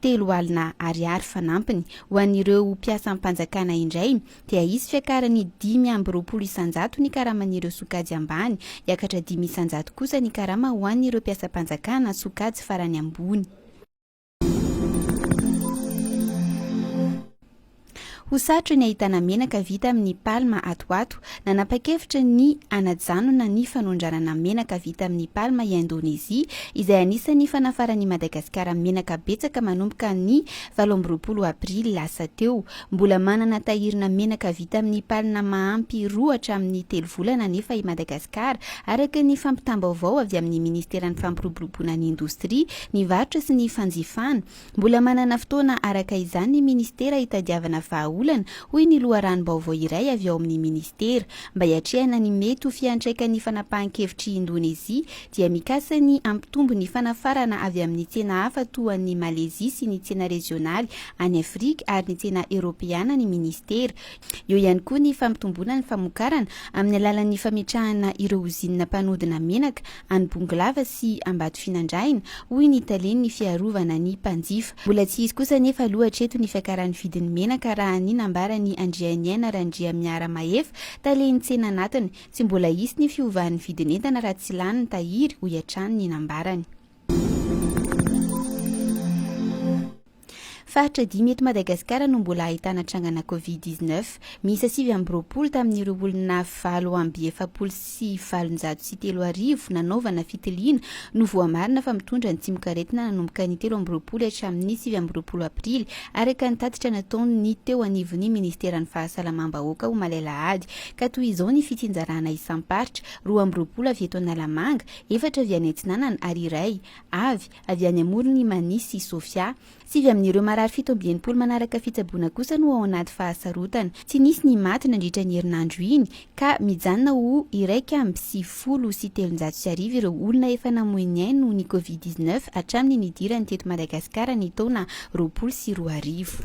telo alina ariary fanampiny ho an'ireo mpiasam-panjakana indray dia hisy fiakarany dimy amby roapolo isanjato ny karaman'ireo sokajy ambany, hiakatra dimy isanjato kosa ny karama ho an'ireo mpiasam-panjakana sokajy farany ambony. Ho sarotra ny ahitana menaka vita amin'ny palma ato ho ato. Nanapa-kevitra ny hanajanona ny fanondranana menaka vita amin'ny palma i Indonezia, izay anisan'ny fanafaran'i Madagasikara menaka betsaka manomboka ny valo amby roapolo aprily lasa teo. Mbola manana tahirina menaka vita amin'ny palma mahampy roa hatramin'ny telo volana anefa i Madagasikara, araka ny fampitam-baovao avy amin'ny Ministeran'ny Fampiroboroboana ny Indostria, ny Varotra sy ny Fanjifana. Mbola manana fotoana araka izany ny minisitera hitadiavana vahaolana, hoy ny loharanom-baovao iray avy ao amin'ny minisitera. Mba hiatrehana ny mety ho fiantraikan'ny fanapahan-kevitr'i Indonezia, dia mikasa ny hampitombo ny fanafarana avy amin'ny tsena hafa toa an'i Malezia sy ny tsena rezionaly any Afrika ary ny tsena eoropeana ny minisitera, Eo ihany koa ny fampitomboana ny famokarana amin'ny alalan'ny fametrahana ireo ozinina mpanodina menaka any Bongolava sy Ambatofinandrahina, hoy ny talen'ny fiarovana ny mpanjifa. Mbola tsy izy kosa anefa aloha hatreto ny fiakaran'ny vidin'ny menaka raha ny nambaran'i Andrianiaina Randriamiaramahefa, talen'ny tsena anatiny. Tsy mbola hisy ny fiovan'ny vidin'entana raha tsy lany ny tahiry, hoy hatrany ny nambarany. Faritra dimy eto Madagasikara no mbola ahitana trangana Covid dix neuf. Miisa sivy amby roapolo tamin'ireo olona valo amby efapolo sy valonjato sy telo arivo nanaovana fitiliana no voamarina fa mitondra ny tsimokaretina nanomboka ny telo amby roapolo hatramin'ny sivy amby roapolo aprily, araka ny tatitra nataon'ny teo anivon'ny minisiteran'ny Fahasalamam-bahoaka omaly alahady. Ka toy izao ny fitsinjarana isam-paritra, roa amby roapolo avy eto Analamanga, efatra avy any Atsinanana ary iray avy avy any amoron'i Mani sy Sofia. Sivy amin'ireo marary fito amby enimpolo manaraka fitsaboana kosa no ao anaty fahasarotana. Tsy nisy ny maty nandritra iny herinandro iny ka mijanona ho iraika amby sivifolo sy telonjato sy arivo ireo olona efa namoy ny ainy noho ny Covid dix neuf hatramin'ny nidirany teto Madagasikara ny taona roapolo sy roa arivo.